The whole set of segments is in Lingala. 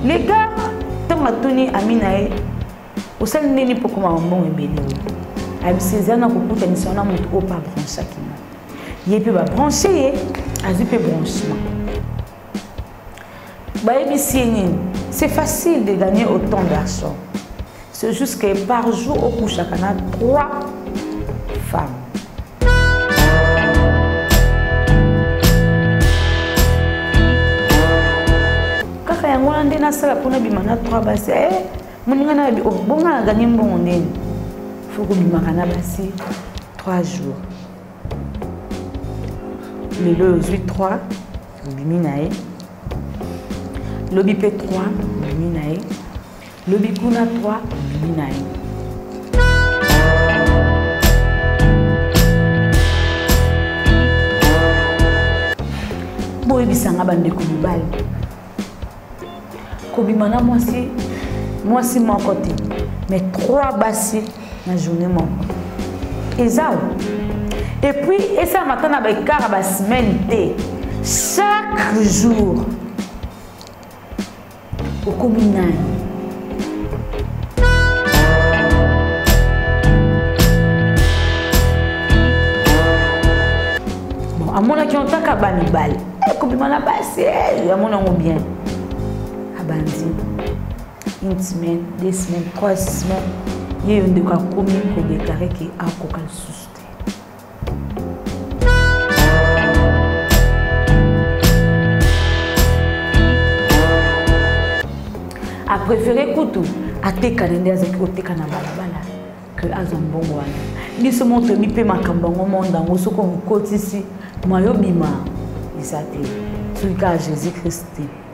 Les gars, ntango atuni ami na ye osali nde nini mpo okoma bambongo ebele ayebisi eza na kokutanisa wana moto oyo mpe abranchaki nga ye mpe babranche ye azwi mpe branchement bayebisi ye nini c'est facile de gagner autant d'argent C'est juste que par jour, au couche, on a trois femmes. kaka yango wana nde nasala mpona bima na trois basi e eh, moninga na yabi obonga oh, na ganye mbongo ndeni fo kobimaka na basi trois jours lelo ozwi trois obimi na ye lobi mpe trois obimi na ye Lobi kuna 3 bimi na ye. boyebisa nga bandeko mibali kobima na mwasi mwasi moko te mais trois basi na journée moko eza o epuis esalama ata na baekart ya basemaine te chaque jour okomi nani amonaki yango kaka bamibale eh, kobima na basi eh, amona yango bien abandi une semaine deux semaines trois semaines ye yo ndeko akomi kodeklare ke akoka lisusu te apréféré kutu atekana nde azalaki koteka na balabala ke azwa mbongo wana biso mo toyebi mpe makambo yango monde yango soki omikotisi mayo bima eza te soki kaka jésus christ te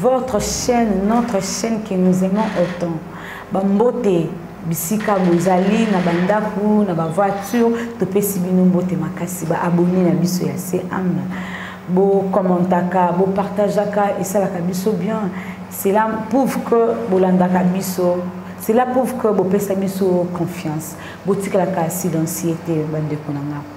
votre chaîne notre chaîne que nous aimons autant bambote bisika bozali na bandako na bavoiture topesi bino mbote makasi baabone na biso ya cam bocommentaka bopartageaka esalaka biso bien cela prouve que bolandaka biso cela prouve que bopesa biso confiance botikalaka silencier te bandeko na ngai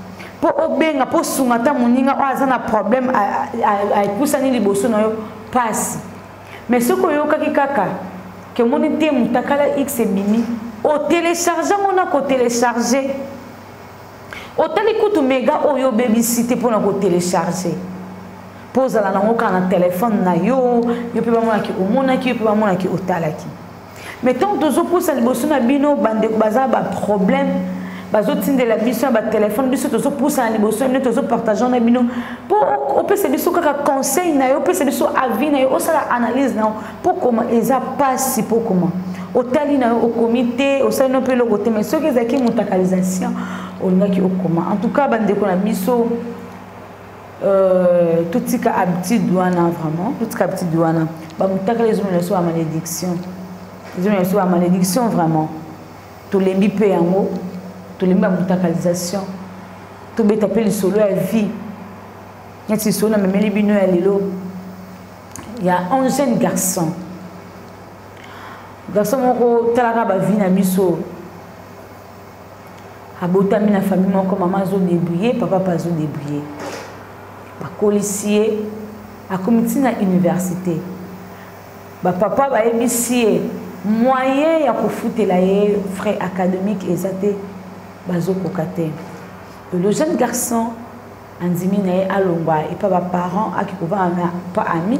mpo obenga mpo osunga ata moninga oyo aza na problème epusani liboso na yo mpasi mais soki oyokaki kaka ke omoni te motakala x ebimi otelecharge yango na kotelecharge otali kutu mega oyo obebisi te mpo na kotelecharge mpo ozala nango kaka na telefone na yo yo mpe bamonaki omonaki yo mpe bamonaki otalaki mais ntango tozopusa liboso na bino bandeko baza baproblème bazotindela biso na batelefone biso tozopusana liboso na bino tozopartage na bino mpo opesa biso kaka conseil na yo opesa biso avis na yo osala analyse na yo mpo koma eza mpasi mpo koma otali na yo okomi te osali no mpe eloko te mais soki ezalaki motakalisation olingaki okoma en tout cas bandeko na biso Euh, totika habitude wana vraiment totika habitude wana bamutakala ezomela biso bamalédiction ezomela biso bamalédiction vraiment tolembi mpe yango tolembi bamutakalisation tobeta mpe lisolo ya vie neti lisolo na memeli bino ya lelo ya un jeune garçon garçon moko talaka bavie na biso abotami na famille moko mama azodebrouille papa mpe azodebrouille bakolisi ye akomi ntina université bapapa bayebisi ye moyen ya kofutela ye frais académique eza te bazokoka te le jeune garçon andimi na ye alongwa epa ba parents ake kovanda na pa ami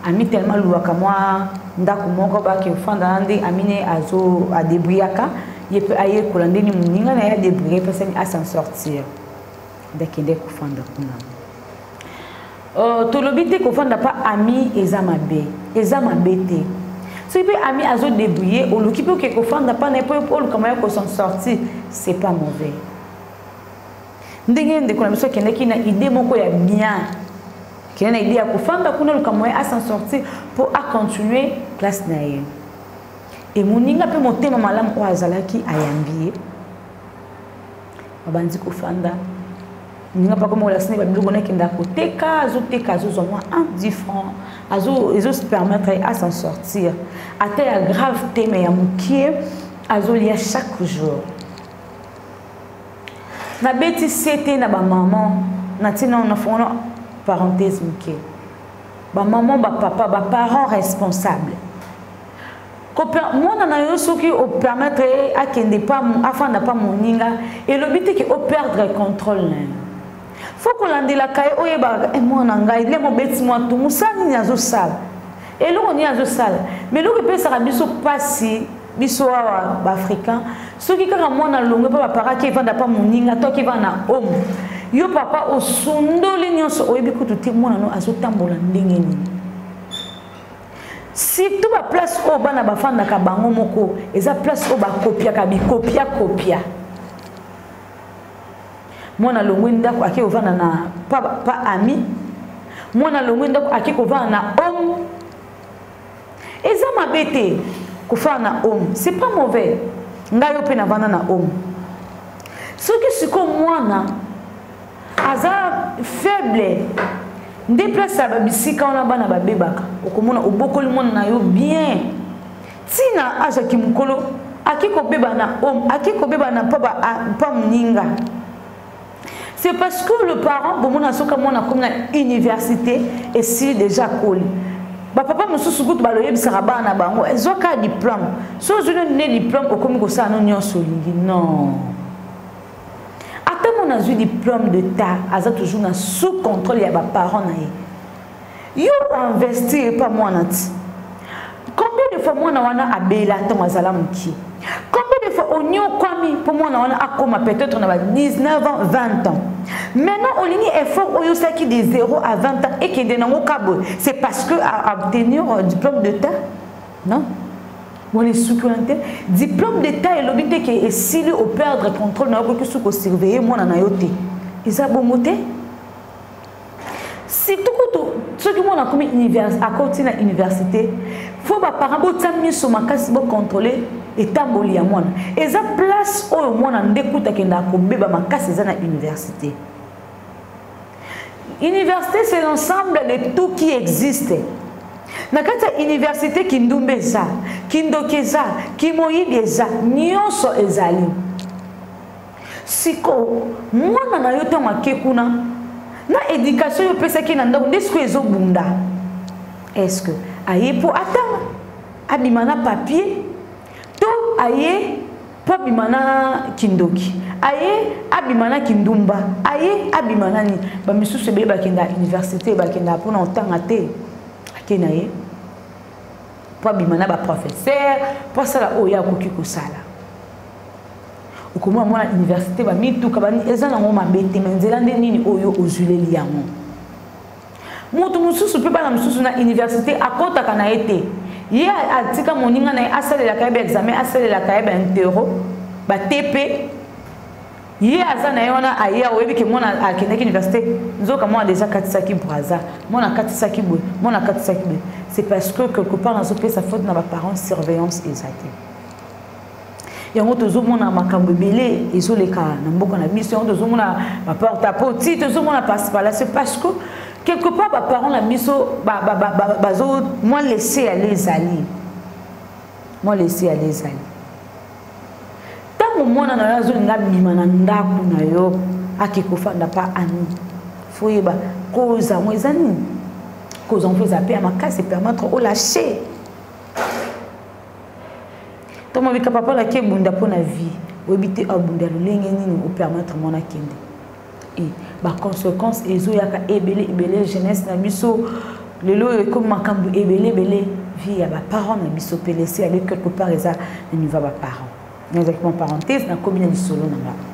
ami tellement aluwaka mwa ndako moko bake ofanda na nde ami ne azo adebriyaka ye mpe ayekola ndeni moninga na ye adebriye mpe asani asan sortir nde akende kofanda kuna euh, tolobi te kofanda mpa ami eza mabe eza mabe te soki mpe ami azo debriye oluki mpe oke kofanda mpa na ye mpo oluka moya kosan sortir c'est pas mauvais ndenge ndeko na biso akendaki na idée moko ya bien kende na idée ya kofanda kuna luka moyen a s'en sortir mpo acontinue classe na ye emoninga mpe motema malamu oyo azalaki ayambi ye babandi kofanda ninga mpe akomi kolasini babiloko nakenda koteka azoteka azozwa mwa 10 franc ezopermettre ye a s'en sortir ata ya grave te me ya mokie azolia chaque jour nabeti sete na bamama na ntina na fongola parenthèse moke bamama bapapa baparent responsable mwana na yo soki opermettre ye akende pa afanda pa moninga elobi te ke operdre contrôle na ye fo kolandelaka ye oyebaka e eh, mwana ngai nde mobeti mwa tu mosala nini azosala eloko nini azosala ma eloko epesaka biso mpasi biso awa baafricain soki kaka mwana alongwe mpe baparaki evanda mpa moninga to akivanda na home yo papa osundoli nyonso oyebi kutu te mwana no azotambola ndenge nini surtout baplace oyo bana bafandaka bango moko eza place oyo bakopiaka bikopia kopia mwana alongwi ndako ake kovanda na pa, pa ami mwana alongwi ndako ake kovanda na home eza mabe te kofana na home c'est pas mauvais ngai yo mpe navanda na home soki sikoyo mwana aza faible nde place ya babisika wana bana babebaka okomona obokoli mwana na yo bien ntina azwaki mokolo ake kobeba na home ake kobeba na mpa moninga c'est parce que le parent bomona soki mwana akomi na université esili déjà akoli bapapa mosusu kutu baloyebisaka bana na bango ezwa kaka diplome so ozwi noni nde diplome okomi kosala no nyonso olingi non ata mwana azwi diplome de ta aza toujours na sous contrôle ya baparent na ye yo oinvestir epa mwana ti combien de fois mwana wana abela ntango azala mokie combien de fois onyokwami mpo mwana wana akoma peut-être na ba 19 ans 20 ans maintenant olingi effort oyo osalaki de 0 à 20 ans ekende nango kaboye c'est parce que obtenir euh, diplôme de terre non wana esuki wana te diplôme d'état elobi te ke esili operdre contrôle na yo okoki suki osurveille mwana na yo te eza bongo te surtout kutu soki mwana akomi akoti na université fo baparent botya miso makasi bocontrole etamboli ya mwana eza place oyo mwana nde kutu akenda akobeba makasi eza na université université c'est l'ensemble de tout qui existe na kati ya université kindumba eza kindoki eza kimoyibi eza nyonso ezali sikoyo mwana na yo ntango ake kuna na éducation oyo opesaki na ndako nde sikoyo ezobunda est ce que aye mpo atanga abima na papier to aye mpo abima na kindoki aye abima na kindumba aye abima na nini bamisusu ebele bakenda université bakenda mpona kotanga te ake na ye mpo abima na baprofesseur mpo asala oyo akoki kosala okomona mwana université bamituka eza nango mabe te ma nzela nde nini oyo ozwileli yango moto mosusu mpe bana mosusu na université akotaka na ye te ye atika moninga na ye asalelaka ye baexamen asalelaka ye baintero batepe ye aza na ye wana aya oyebi ke mwana akendaki université nzoka mwana deja akatisaki braza mwana akatisaki boye mwana akatisaki boye c'est parce que quelque part nazopesa faute na baparents surveillance eza te yango tozomona makambo ebele ezoleka na mboka na biso yango tozomona baporte a poti tozomona pasi palasi parce que quelque part baparent na biso bazo mwa laisse yale ezali mwa laisse yale ezali ntango mwana na yo azolinga abima na ndako na yo ake kofanda pa ami foyeba koza yango eza nini koza yango eza mpe ya makasi permettre olache ntango mabika papa laki ebunda mpo na vie oyebi te abunda lolenge nini opermettre mwana akende e baconséquence ezoyaka ebele ebele jeunesse na biso lelo oyo ekomi makambo ebele ebele vie ya baparent na biso mpe lese yale quelque part eza na niveau ya baparent nazalaki maparenthese nakomi na lisolo na ngai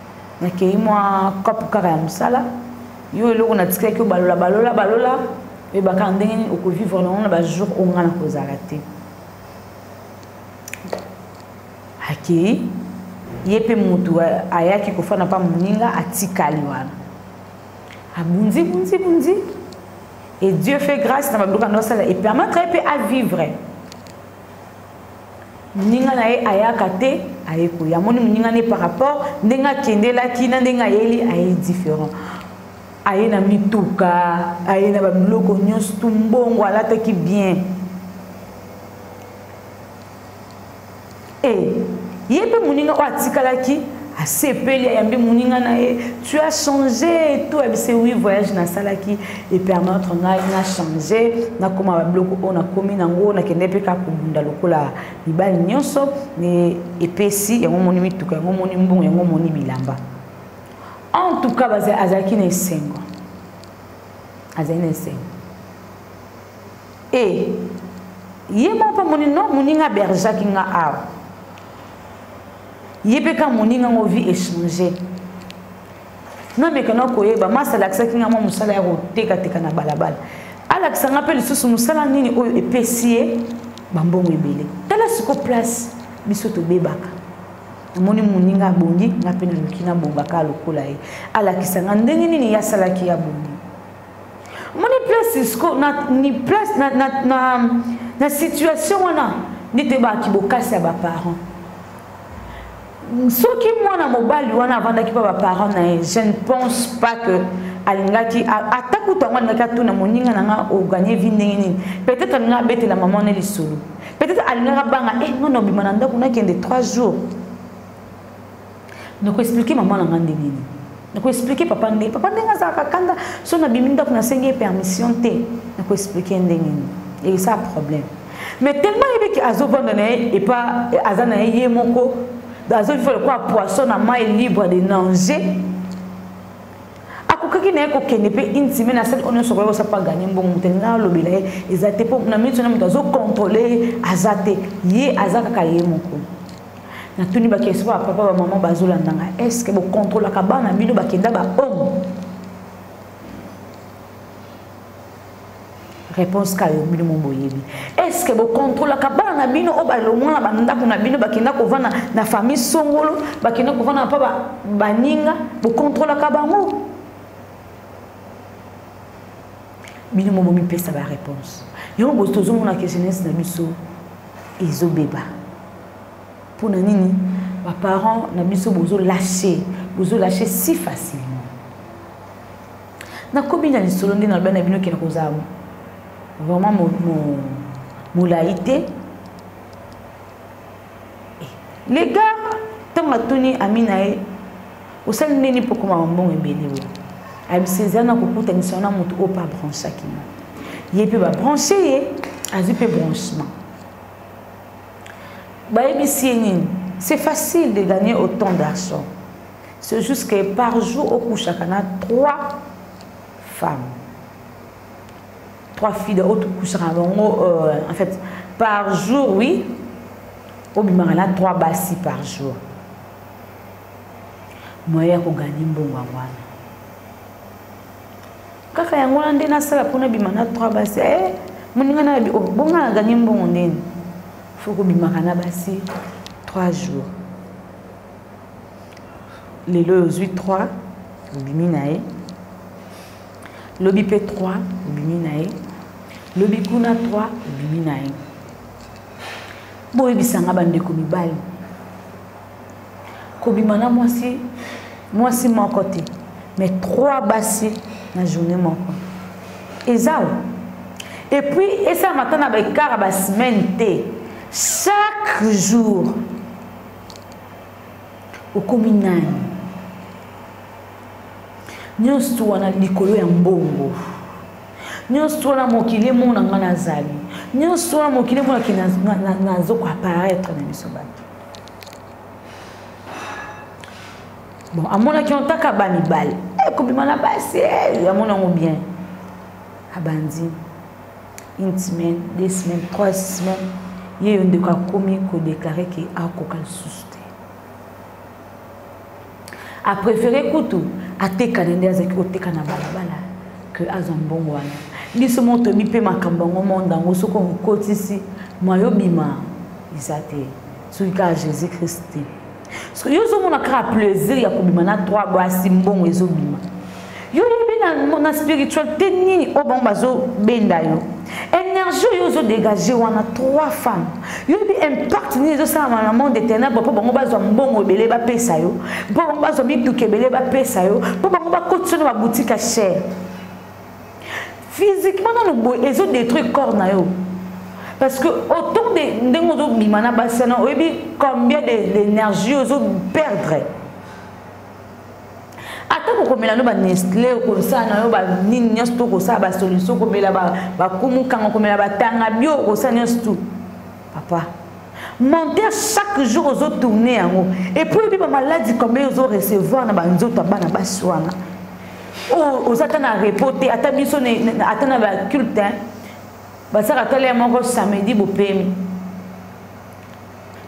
nakei mwa kapu kaka ya mosala yo eloko natikaki yo balola balola balola oyebaka ndenge nini okovivre nango na bajour oyo ngai nakozala te akei ye mpe motu ayaki kofanda mpa moninga atikali wana abunzi bunzi bunzi et dieu fait grâce na babiloko yango asala epermettre ye mpe avivre moninga na ye ayaka te aye koya amoni moninga na ye par rapport ndenge akendelaki na ndenge ayeli aye différent aye na mituka aye na babiloko nyonso tu mbongo alataki bien e ye mpe moninga oyo atikalaki asepeli ayambi moninga na ye tu as changé to ayebise wi voyage nasalaki epermettre ngai na change nakoma babiloko oyo nakomi nango nakende mpe kaka kobunda lokola mibali nyonso epesi yango moni mituka yango moni mbongo yango moni bilamba en tout cas azalaki na esengo azali na esengo e ye moko mpe moni no moninga berjaki nga awa ye mpe kaka moninga yango vie echange namekana koyeba masi alakisaki ngai mwa mosala ya kotekateka na balabala alakisa ngai mpe lisusu mosala nini oyo epesi ye bambongo ebele tala siko place biso tobebaka namoni moninga abongi ngai mpe naluki nabongaka lokola ye alakisa ngai ndenge nini ye asalaki ya bongi omoni place siko na, ni place na, na, na, na situation wana nde toyebaki bokasi ya baparent soki mwana mobali wana avandaki mpa baparent na ye je ne pense pas que alingaki ata kutu yango alingaki atuna moninga na nga oganie vi ndenge nini peut-être alingaki abetela mama na lisolo peut-être alingaki abanga e eh, nga na obima na ndako nakende 3 jours na koexplike mama na ngai nde nini na koexplike papa nde papa ndenge azalaka kanda so nabimi ndako nasengi ye permission te na koexplike ndenge nini eyesa problème mais tellement yebi ke azovanda na ye epa aza na ye ye moko azoviva lokola poisson na mai libre de nanger akokaki na ye kokende mpe une semaine asali oyo nyonso koyeba osapa ganye mbongo moto elinga alobela ye eza te mpo na miniti wana moto azokontrole ye aza te ye aza kaka ye moko natuni bakesi ba papa ba mama bazolanda ngai est ce que bokontrolaka bana bino bakenda bahomo réponse ka yo bino moboyebi est ce que bokontrolaka bana na bino oyo balongwa na bandako na bino bakenda kovanda na famille songolo bakenda kovanda mpa baninga bokontrolaka bango bino mo bomipesa baréponse yango bozi tozomonaka jeunesse na biso ezobeba pona nini ba parents na biso bozo lâcher bozo lâcher si facilement na komi na lisolo nde na bana bino kena kozala vraiment mo, mo, molai te eh, le gars ntango atuni ami na ye osali ndeni mpo okoma mambongo ebele oyo abisa eza na kokutanisa wana moto oyo mpe abranchaki ma ye mpe babranche ye azwi mpe branchement bayebisi ye nini c'est facile de gagner autant d'argent c'est juste que par jour okushaka na trois femmes trois filles oyo tokushaka bango euh, en fait par jour oui obimaka na trois basi par jour moyen ya koganye mbongo yango wana kaka yango wana nde nasala mpo nabima na trois basi e moninga na yabi oh, bonga na ganye mbongo ndeni fo kobimaka na basi trois jours lelo oyo ozwi trois obimi na ye lobi mpe trois obimi na ye lobi kuna trois obimi na ye boyebisanga bandeko mibali kobima na mwasi mwasi moko te mais trois basi na journée moko eza o epuis esalama ata na baekart ya basemaine te chaque jour okomi nani nyonso wana likolo ya mbongo nyonso wana mokili emona ngai nazali nyonso wana mokili emonaki nazokoaparaitre na biso bato bon amonaki ontaka ba mibale ekobima na basi eh, amona yango bien abandi une semaine deux semaines trois semaines ye yo ndeko akomi kodeklare ke akoka lisusu a préféré kutu atekana nde azalaki koteka na balabala ke azwa mbongo wana biso moko toyebi mpe makambo yango monde yango soki okotisi mwayo bima eza te soki kaka jésus christ te soki yo ozomona kaka plaisir ya kobima na trois basi mbongo ezobima yo oyebi na, na spiritualité nini oyo bango bazobenda yo énergie oyo ozodégage wana trois femmes yo oyebi impact nini ezosalama na monde ténèbre mpo bango bazwa mbongo ebele bapesa yo mpo bango bazwa mituka ebele bapesa yo mpo bango bakotisa na baboutique ya chere physiquement nano boye ezodétruire corps na yo parce que autant de ndenge ozobima na basi wana oyebi combien d'énergie ozoperdre ata kokomela no banestle okosala na yo banini nyonso to okosala basolution okomela bakumu kanga okomela batanga bio okosala nyonso tu papa menteur chaque jour ozotourne yango epuis oyebi bamaladi combien ozoreceveur na banzoto ya bana basi wana oza ata na repos te ata biso ata na baculte basaka tala ya moko samedi bopemi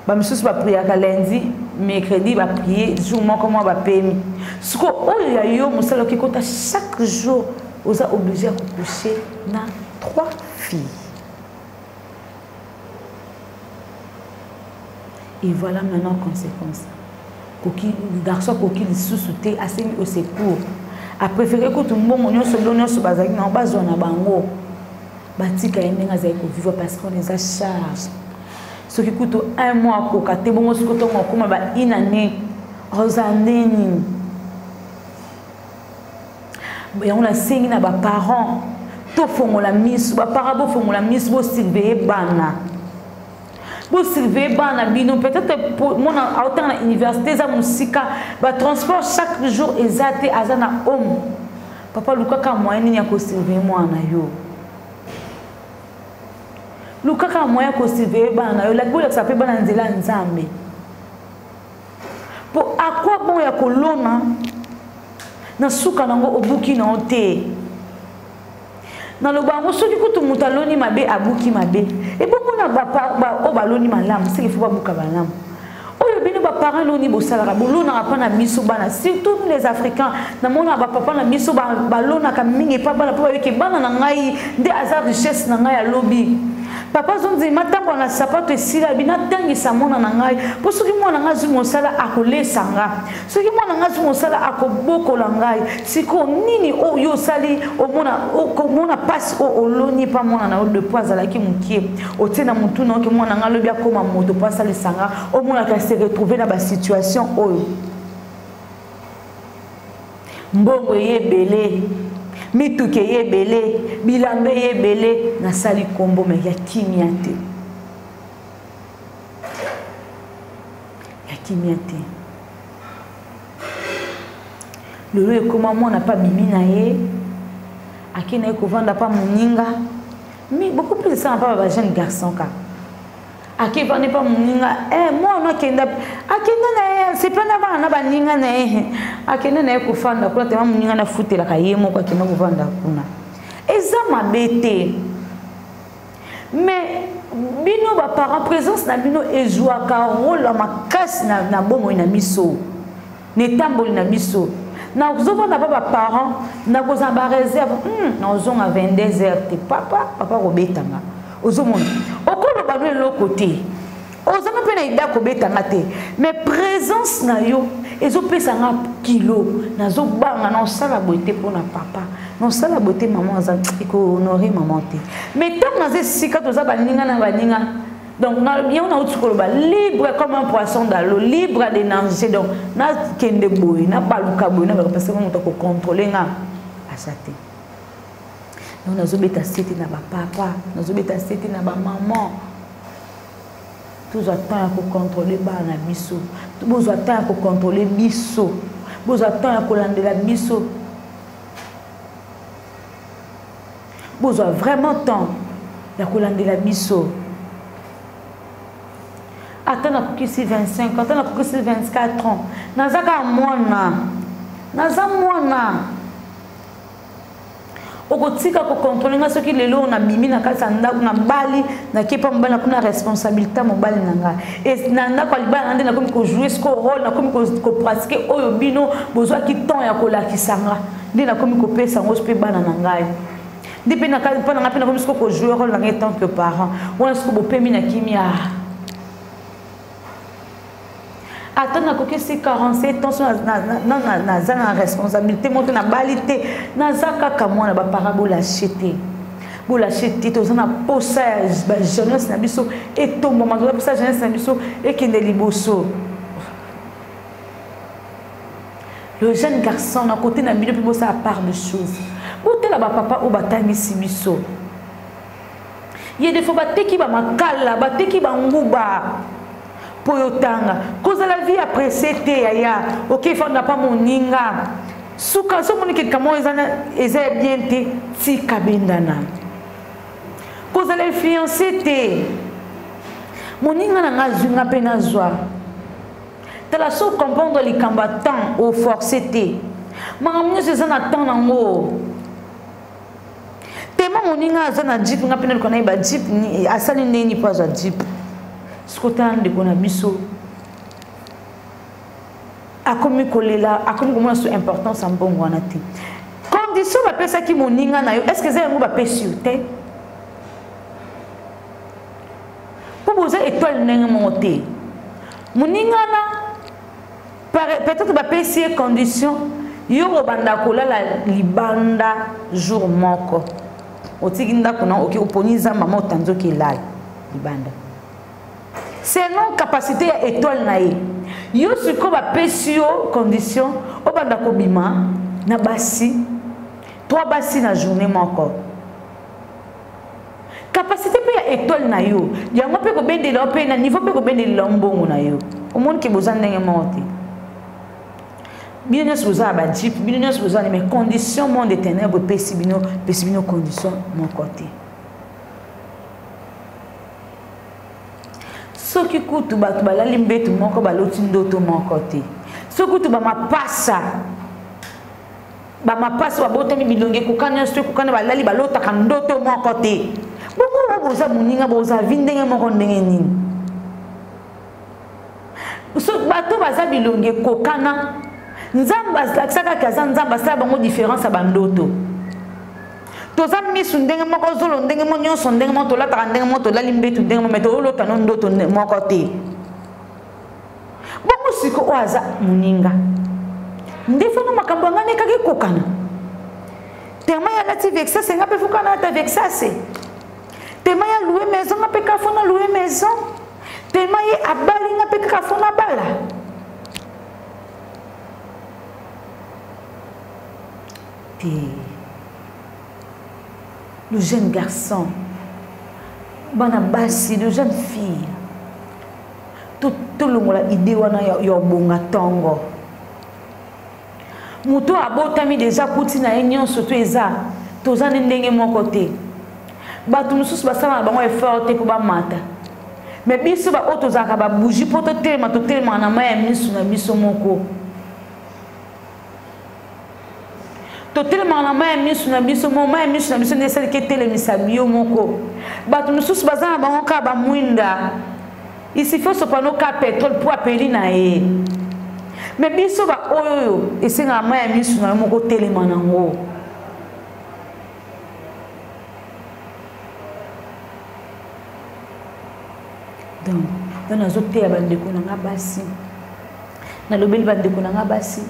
bamisusu bapriaka lundi mercredi baprie jour moko mwa bapemi siko oyo ya yo mosala oki kota chaque jour oza oblige ya kokouche na trois filles et voilà maintenant conséquence koki garçon akoki lisusu te asengi au secours apréféré kutu mbongo nyonso bilo nyonso bazalaki nango bazwa na bango batika ye ndenge azali kovivre parce qu'on eza charge soki kutu un mois akoka te bongo soki ntongo akoma ba une année ozala nde nini yango nasengi na baparent tofongola miso baparent bofongola miso bosurveye bana bosurveye bana bino peut-être mwana aotanga na université eza mosika batransport chaque jour eza te aza na home papa lukaka moyen nini ya kosurveille mwana na yo lukaka moyen ya kosurveille bana na yo bolakisa mpe bana nzela ya nzambe mpo akwa bon ya kolona na suka nango obuki na yo te naloba yango soki kutu moto aloni mabe abuki mabe ebongo na oyo baloni malamu seke fo babuka malamu oyo bino baparent loni bosalaka bolonaka mpa na biso bana surtout nous les africains namonaka bapapa na biso balonaka mingi epa bana mpo bayoki bana na ngai nde aza richesse na ngai ya lobi papa azondima atambola na sapato esila abi natangisa mwana na ngai mpo soki mwana na ngai azwi mosala akolesa nga soki mwana ngai soki mosala akobokola ngai sikoyo nini oyo osali omona mpasi oyo oloni mpa mwana na yo depuis azalaki mokie otie na motu na yoke mwana ngai alobi akóma moto mpo asalisa nga omonaka se retrouve na basituation oyo mbongo eye ebele mituka eye ebele bilamba eye ebele nasali nkombo me ya kimia te ya kimia te lelo ekoma mwana mpe abimi na ye akenda ye kovanda mpa moninga mais beaucoup plus esala mpa ba jeune garçon kaka akevandi mpa moninga eh, mwana akenda akenda na ye sepa na bana na baninga na ye akenda na ye kofanda kuna tema moninga nafutelaka ye moko akenda kovanda kuna eza mabe te mais bino ba parents présence na bino ezwaka rôle ya makasi na, na bomoi na biso na etamboli na biso nazovanda pa baparent nakozala bareserve hmm, nazonga 22 heures te papa papa kobetanga ozomona okoloba no eloko te ozanga mpe na ida kobeta nga te mais présence na yo ezopesa nga kilo nazobanga na osala boye te mpo na papa na osala boye te mama aza ekohonore mama te mais ntango naza esika toza baninga na baninga donc yango nauti koloba libre comme un poisson dalo libre de nanger donc nakende boye nabaluka boye nabaka parce que moto akocontrole nga aza te donc nazobeta sete na bapapa nazobeta sete na bamaman tozwa temps ya kocontrole bana na biso bozwa temps ya kocontrole biso bozwa temps ya kolandela biso bozwa vraiment temps ya kolandela biso ata nakokisi 25 ata nakokisi 24 ans naza kaka mwana naza mwana okotika kokontrole ngai soki lelo nabimi na kati ya ndako nabali nakepa mobali nakomi na responsabilité ya mobali na ngai na ndako ya libala na nde nakomi kojoue siko role nakomi kopratike oyo bino bozwaki temps ya kolakisa nga nde nakomi kopesa yango mpe bana na ngai nde mpe mpo na ngai mpe nakomi siko kojoue role na ngai tant que parent wana siko bopemi na kimia ata nakokisi 47 ans naza na responsabilité moto nabali te naza kaka mwana bapara bolache te bolache te toza na posa ya bajeunesse na biso etombama toza posa ya jeunesse na biso ekende liboso le jeune garçon na kote na bino mpe bosala part de chose botala bapapa oyo batangisi biso ye defo bateki bamakala bateki banguba mpo yotanga kozala vie ya presse te yaya okefanda mpa moninga suka so omoni kelika moko eza ya bien te tika bendana kozala influence te moninga na ngai azwi ngai mpe nazwa tala so comprendre likambo ya temps oforce te makambo nyonso eza na temps nango tema moninga aza na jip nga mpe naluka na ye ba jip asali ndenge nini mpo azwa jip sikotala ndeko na biso akomi kolela akomi komona so importance ya mbongo wana te condition bapesaki moninga na yo est ce que eza yango bapesi yo te mpo boza etoile ndenge moko te moninga na peut-être bapesi ye condition yo obanda kolala libanda jour moko otiki ndako na oke oponi zamba ma otanzi oke elala libanda selon capacité ya étoile na ye yo sikoyo bapesi yo condition obanda kobima na basi trois basi na journée moko capacité mpe ya étoile na yo yango mpe kobendela yo mpe na niveau mpe kobendelela yo mbongo na yo omoni ke boza ndenge moko te bino nyonso boza na bajipe bino nyonso boza na mais condition monde de ténèbre epesi bino epesi bino condition moko te soki kutu bato balali mbetu moko baloti ndoto moko te soki kutu bamapasa bamapasi babotami bilongi ekoka nyonso ekokana balali balotaka ndoto moko te bongo boza moninga boza vi ndenge moko ndenge nini so bato baza bilongi ekokana nzambe alakisaka ke aza nzambe asala bango différence ya bandoto toza misu ndenge moko zolo ndenge mo nyonso ndenge moko tolataka ndenge moko tolali mbetu ndenge moko me toolotano ndoto moko te bongo siko oyo aza moninga nde fana makambo yanga nekaki kokana tema ya lati vexase nga mpe fokana ata vexase tema ya loue maison nga mpe kafo na loue maison tema ye abali nga mpe kaka fo nabala te le jeune garçon bana basi le jeune fille tolongola to idée wana ya, ya obonga tongo moto oyo abotami deja kuti na ye nyonso to eza toza nde ndenge moko te bato mosusu basalaka bango effort te mpo bamata me biso baoyo tozalaka babougi mpo totelema totelemaka na mai ya miso na biso moko totelemaka na mai ya miso na biso mo mai ya miso na biso nde esaliki etelemisa yo moko bato mosusu baza na bango kaka bamwinda isifi osopano ka petrole mpo apeli na ye me biso baoyo oyo esengaka mai ya miso na yo moko otelema nango donc nga nazoteya bandeko na nga basi nalobeli bandeko na nga basi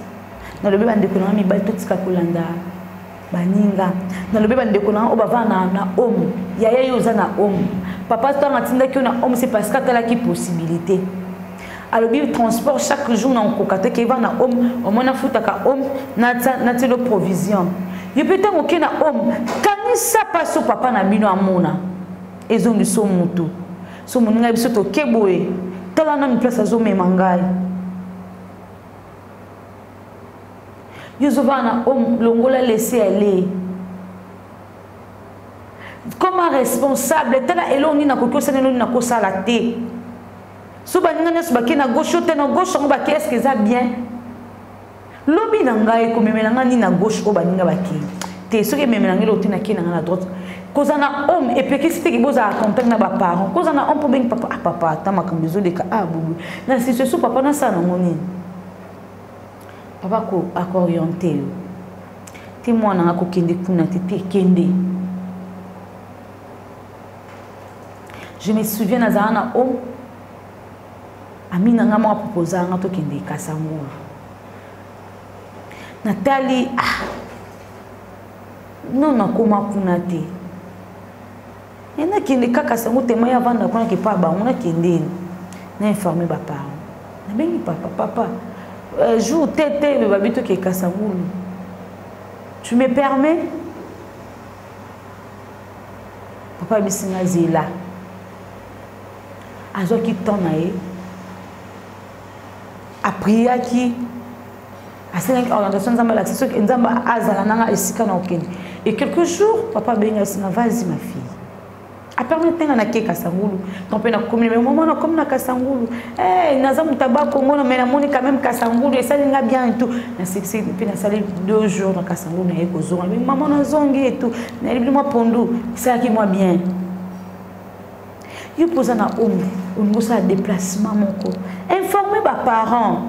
nalobeli bandeko na nga mibali totika kolanda baninga nalobeli bandeko na nga oyo bavaa na, na homme yaya yo oza na homme papa ntango atindaki yo na homme se parce que atalaki possibilité alobi transport chaque jour na okoka te keva na homme omoi nafutaka homme natilo provision yo mpe ntango oke na homme kanisa mpaso papa na bino amona ezongi so mutu so moninga biso toke boye tala nanu place azomema ngai yo ozovaa na home longola lese ale koma responsable tala eloko nini nakoki osala eloko nini nakosala te so baninga nyonso bakei na gauche yo te na gauche yango bakei eske eza bien lobi na ngai ekomemela ngai nini na gauche oyo baninga bakei te soki ememela ngai lote nakei na ngai na droite kozala na homme epekisi teke bozala contact na baparent kozala na homme mpo bengi papa ah papa ata makambo ezoleka ah bobo na situation papa nasala nango nini papa akooriente yo te mwana nga kokende kuna te te kende je me souviens nazala na homme ami na ngai moko aproposa ngai tokende kasangulu natali ah, no nakoma kuna te e nakende kaka sango tema ya vanda kuna kepa bango nakende na informe baparent nabengi papa papa euh, jour tete babi toke kasangulu tu me permets papa abisi nga zela azwaki temps na ye apriaki asengaki orientation nzambe alakisi soki nzambe azala nanga esika na okende et quelques jours papa abenga esinga vas-y ma fille apermete nga nake kasangulu to mpe nakomi me mama nakomi na kasangulu hey, eh, naza moto aba komona me namoni quand même kasangulu esali nga bien et tout nasekisi mpe nasali deux jours na kasangulu naye kozonga me mama nazongi et tout nayebili mwa pondu esalaki mwa bien yo mpo oza na ombre olingi osala déplacement moko informe baparent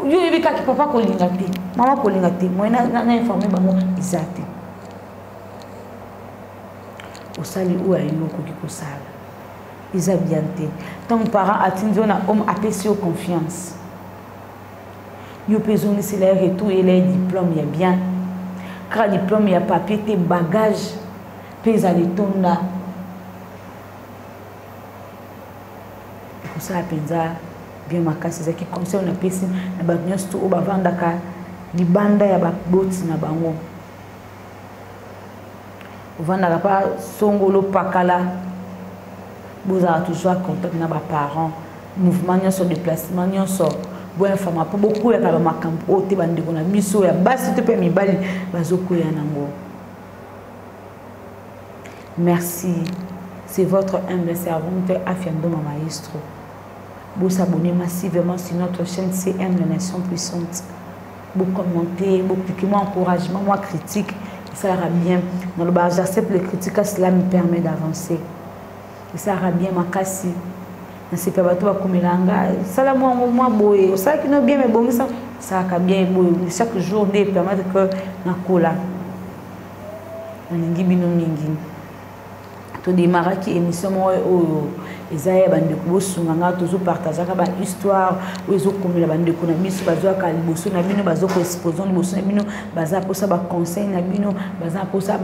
yo oyebi kaki papa kolinga te mama kolinga te moye na informe bango eza te osali oyo ayino okoki kosala eza bien te ntango parent atindi yo na homme apesi yo confiance yo mpe ezongisela ye retour yela ye diplome ya bien kaka diplome ya papier te bagage mpe ezala etonda ekosala mpenza bien makasi ezalaki conseil napesi na bato nyonso to oyo bavandaka libanda ya baboti na bango ovandaka mpa songolo pakala bozala toujours a contact na baparent mouvement nyonso déplacement nyonso boyafama mpo bokweyaka bamakambo oyo te bandeko na biso ya basi to mpe ya mibali bazokweya nango merci c'est votre humble servante afiandoma maestro bosabone massivement sur notre chaîne cm la nation puissante bocommenter bopiki mwa encouragement mwa critique esalaka bien naloba j'accepte le critique a cela me permet d'avancer esalaka bien makasi nasepela bato bakomela nga sala mwa yango mwa boye osalaki no bien mebongisa esalaka bien boye chaque jour nde epermettre que nakola nalingi bino mingi todemaraki émission moko oyo eza ya bandeko bosunga nga tozopartageaka bahistoire oyo ezokomela bandeko na biso bazwaka liboso na bino baza koexpose liboso na bino baza mposa baconseil na bino baza mposa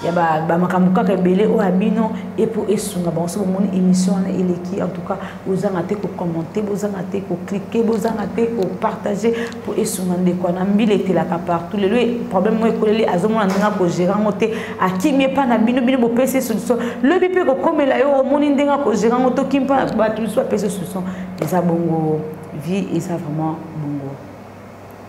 ya bamakambo kaka ebele oyo ya bino epo esunga bango so bomoni émission wana eleki en tout cas bozanga te kokommente bozanga te koklike bozanga te kopartage mpo esunga ndeko na mbila etelaka partout lelo problème moko ekoleli azomona ndenge akogere yango te akimi epa na bino bino bopesi solution lobi mpe kokomela yo omoni ndenge akogere yango te okimi mpa bato mosusu bapesi solution eza bongo vie eza vraiment